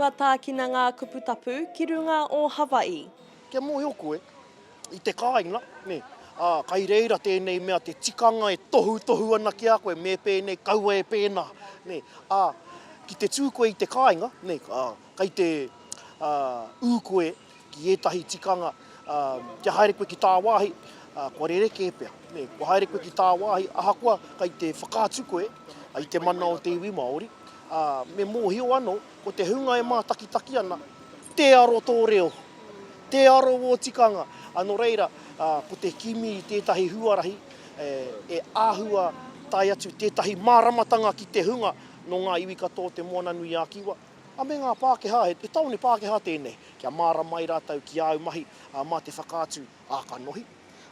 Kua tākina ngā kupu tapu ki runga o Hawaii. Kia mōhio koe, i te kāinga, nē, ā, kai reira tēnei mea te tikanga e tohutohu ana ki a koe, me pēnei, kaua e pēnā, nē, ā, ki te tū koe i te kāinga, nē, ā, kai te, ā, ū koe, ki ētahi tikanga, ā, kia haere koe ki tāwāhi, ā, kua rerekē pea, nē, kua haere koe ki tāwāhi, ahakoa kei te whakaatu koe i te mana o te iwi Māori, ā, me mōhio anō, ko te hunga e mātakitaki ana, tē aro tō reo, tē aro ō tikanga, ā, nō reira, ā, ko te kimi i tētahi huarahi, e, e āhua tae atu tētahi māramatanga ki te hunga nō ngā iwi katoa o Te Moana-nui-ā-Kiwa. A me ngā Pākehā, he tāone Pākehā tēnei, kia māra mai rātou ki āu mahi mā te whakaatu ā-kanohi,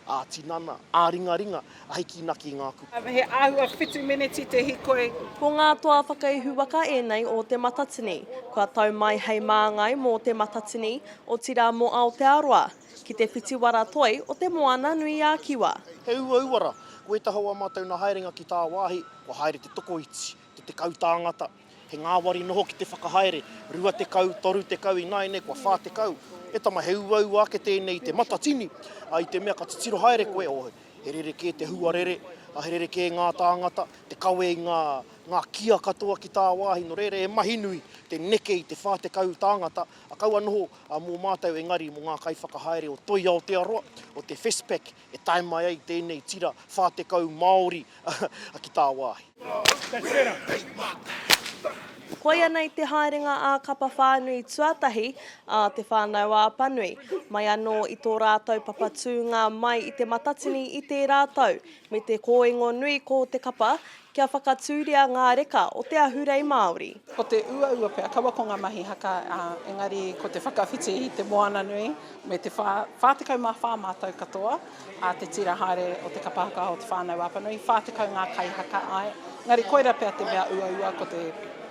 ā-tinana, ā-ringaringa, a hiki naki i ngā kupu. He āhua whitu meneti te hikoi. Ko ngā toa whakaihuwaka ēnei o Te Matatini, kua tau mai hei māngai mō Te Matatini, otirā mō Aotearoa, ki te whitiwara toi o Te Moananui-a-Kiwa. He uauara, ko ētahi o ā mātou nā haerenga ki tāwāhi, kua haere te tokoiti, te tekau tāngata, He ngāwari noho ki te whakahaere, 20, 30 ināianei kua 40. E tama, he uaua ake tēnei i te matatini, ā, i te mea ka titiro haere koe, ō, he rerekē te huarere, ā, he rerekē ngā tāngata, te kawe i ngā, ngā kia katoa ki tāwāhi, nō reira he mahi nui te neke i te 40 tāngata, ā, kaua noho, ā, mō mātou engari mō ngā kaiwhakahaere o Toi Aotearoa, o te Festpac e tae mai ai tēnei tira 40 Māori ki tāwāhi. Koianei te haerenga ā Kapa Whānui tuatahi ā Te Whānau Apanui, mai anō i tō rātou papatūnga mai i Te Matatini i tērā tau, me te kōingo nui ko te kapa Kia whakatūria ngā reka o te ahurei Māori. Ko te uaua pea kaua ko ngā mahi haka, ā, engari ko te whakawhiti i te moana nui me te whā, 44 mātou katoa, ā, te tira haere o te kapa haka o Te Whānau a Apanui, 40 ngā kaihaka, āe, engari koirā pea te mea uaua ko te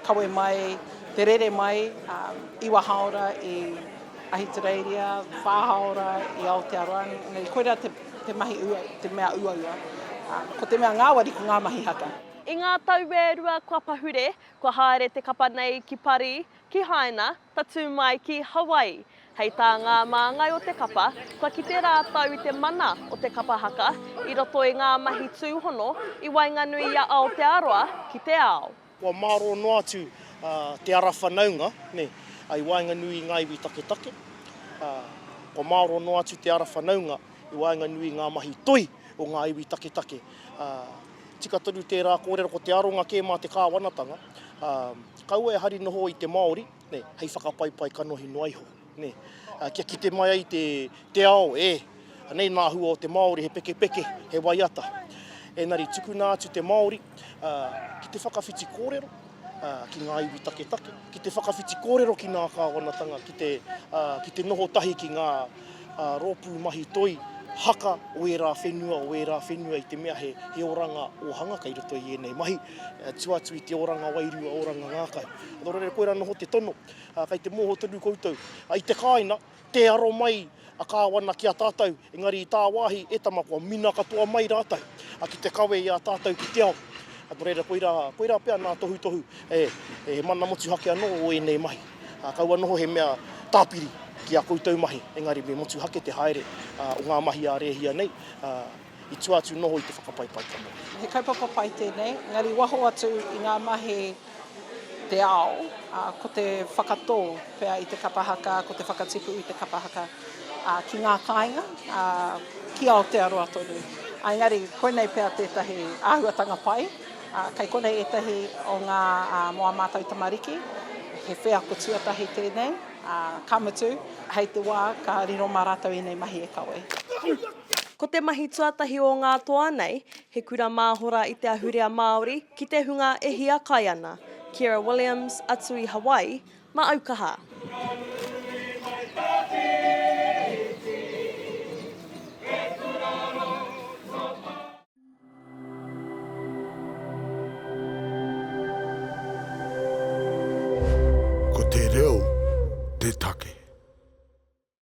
kawe mai, te rere mai, ā, iwa hāora i Ahitereiria, whā hāora i Aotearoa, engari koirā te. Te mahi ua, te mea uaua. Ko te mea ngāwari ko ngā mahi haka. I ngā tau e rua kua pahure, kua haere te kapa nei ki Pari, ki Haina, tatū mai ki Hawaii. Hei tā ngā māngai o te kapa, kua kite rātou i te mana o te kapa haka i roto i ngā mahi tūhono i waenganui i a Aotearoa ki te ao. Kua mārō noa atu te ara whanaunga i waenganui i ngā iwi taketake. Kua mārō noa atu te ara whanaunga i waenganui i ngā mahi toi o ngā iwi taketake. Tika tonu tērā kōrero ko te aronga kē mā te kāwanatanga, kaua e hari noho i te Māori hei whakapaipai kanohi noa iho. Nē, kia kite mai ai te ao, ē, anei nā hua o te Māori, he pekepeke, he waiata. Ēnari, tukuna atu te Māori ki te whakawhiti kōrero ki ngā iwi taketake, ki te whakawhiti kōrero ki ngā kāwanatanga, ki te noho tahi ki ngā rōpū mahi toi, haka o ērā whenua, o ērā whenua i te mea he oranga ōhanga kei roto i ēnei mahi, tua atu i te oranga wairua, oranga ngākau. Nō reira, koirā noho te tono. Kei te moho tonu koutou. I te kāina, tē aro mai a Kāwana ki a tātou, engari i tāwāhi, e tama, kua mina katoa mai rātou ki te kawe i a tātou ki te ao. Nō reira, koirā, koirā pea ngā tohutohu, e, he mana motuhake anō o ēnei mahi. Kaua noho he mea tāpiri ki a koutou mahi, engari me motuhake te haere o ngā mahi a Rēhia nei. i tua atu noho i te whakapai paetamu. He kaupapa pai tēnei, engari waho atu i ngā mahi te ao, ā, ko te whakatō pea i te kapa haka, ko te whakatipu i te kapa haka, ā, ki ngā kāinga, ā, ki Aotearoa tonu. Ā, engari koinei pea tētahi āhuatanga pai, ā, kei konei ētahi o ngā, ā, mō ā mātou tamariki, he wheako tuatahi tēnei, ā, ka mutu, hei te wā ka riro mā rātou ēnei mahi e kawe. Ko te mahi tuatahi o ngā toa nei, he kura māhora i te ahurea Māori ki te hunga e hiakai ana, Kira Williams, atu i Hawaii, ma Aukaha. Ko te reo te take.